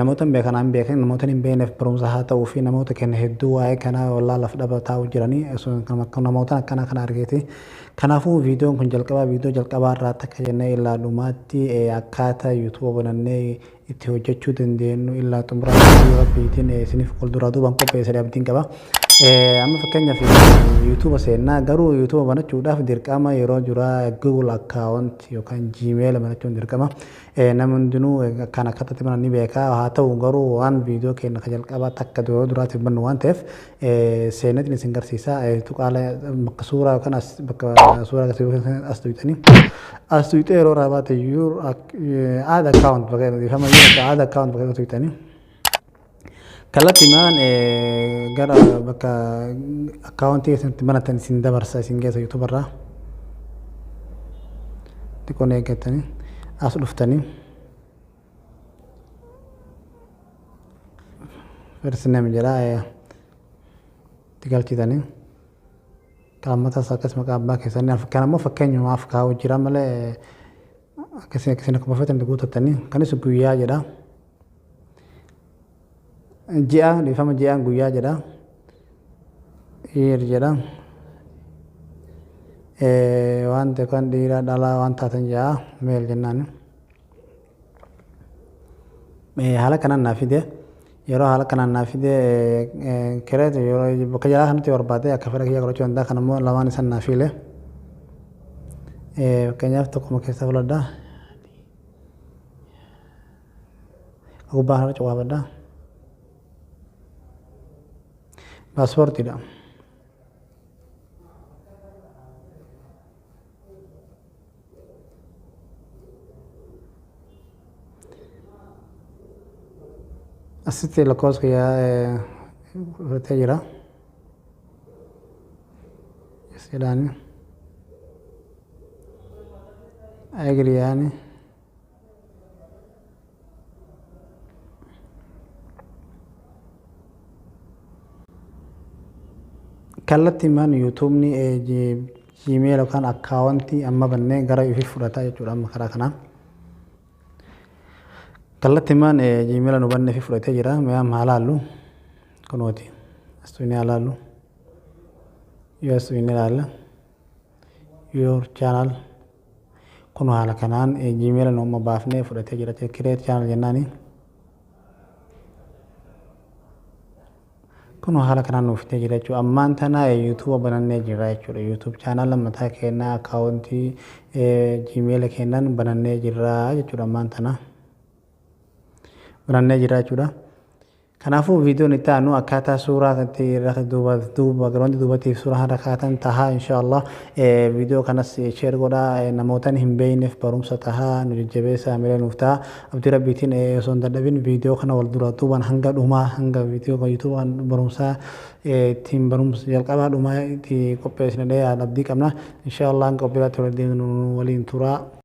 Namoota hin beekanaa hin beekin namoota hin beekneef barumsa haa ta'uu fi namoota kenna hedduu waa'ee kanaa wallaa laf dhaba taa'u jiranii namoota akkanaa kana argeeti. Kanaafuu viidiyoon kun jalqabaa viidiyoo jalqabaa irraa takka jennee illaa dhumaatti akkaataa yuutuuba banannee itti hojjechuu dandeenyu illaa xumuraa viidiyoo rabbiitiin isiniif wal duraa duubaan qopheessadhe abdiin qaba. Amma fakkeenyaaf yuutuuba seennaa garuu yuutuuba banachuudhaaf dirqama yeroo duraa Google account yookaan Gmail banachuun dirqama. Ee namni hundinuu akkaan akka tati banan ni beeka haa ta'u garuu waan viidiyoo keenya ka jalqabaa takka dura duraatiif bannu waan ta'eef seeneetiin isin garsiisa tuqaala bakka suuraa yookaan as bakka suuraa agarsiisu as tuyxanii as tuyxee yeroo irraa baate aad akkaawunt bakka dhiifama yoo aad akkaawunt bakka tuyxanii Kallattimaan gara bakka akkaawuntii keessanitti banatan isin dabarsa isin geessa YouTube irraa. Xiqqoon eeggatanii as dhuftanii. First name jedha itti galchitanii. Qaammatas akkas maqaa abbaa keessanii kan ammoo fakkeenyumaaf kaa'u jira malee akkasii akkasii akka bafatan guutattanii kanis guyyaa jedha ji'a dhiifama ji'a guyyaa jedha year jedha wanta kan dhiiraa dhalaa waan taatan ja'a meel jennaan haala kanaan naa fide Yeroo haala kanaan naa fide kireetu yeroo bakka jalaa kanatti barbaade akka fedha kiyya godhachuu danda'a kan immoo lamaan isan naa fiile. Fakkeenyaaf tokkuma keessa filadha. Gubbaa kanarra cuqaafadha. Paaspoortiidha. asitti lakkoofsa kiyyaa fudhatee jira jedhaani agiriyaani kallattiimaan yuutuubni jiimeel yookaan akkaawwantii amma bannee gara ifi fudhataa jechuudha amma karaa kanaa. Kallattiimaan jiimeela nu bannee fi fudhatee jira. Mee amma haa laallu. Kunooti. Astuunii haa laallu. Yoo astuunii ilaalla. Your channel. Kunoo haala kanaan gmail nu amma baafnee fudhatee jira jechuudha. Create channel jennaani. Kunoo haala kanaan nuuf fidee jira jechuudha. Ammaan tana YouTube banannee jira jechuudha. YouTube channel mataa keenyaa akkaawuntii gmail keenyaan banannee jira jechuudha ammaan tana. Banannee jira jechuudha. Kanaafuu viidiyoon itti aanu akkaataa suuraa kanatti irra duuba duuba garoonti duubatiif suuraa irra kaatan tahaa inshaallah viidiyoo kanas sheer godha namootan hin beeyneef barumsa tahaa nu jajjabeessa amilee nuuf taha abdii rabbiitiin osoo hin dadhabin viidiyoo kana wal dura duuban hanga dhumaa hanga viidiyoo kan yuutuuba kan barumsaa ittiin barumsa jalqabaa dhumaa itti qopheessinadhee abdii qabna inshaallah hanga qophii irratti wal deemnu waliin turaa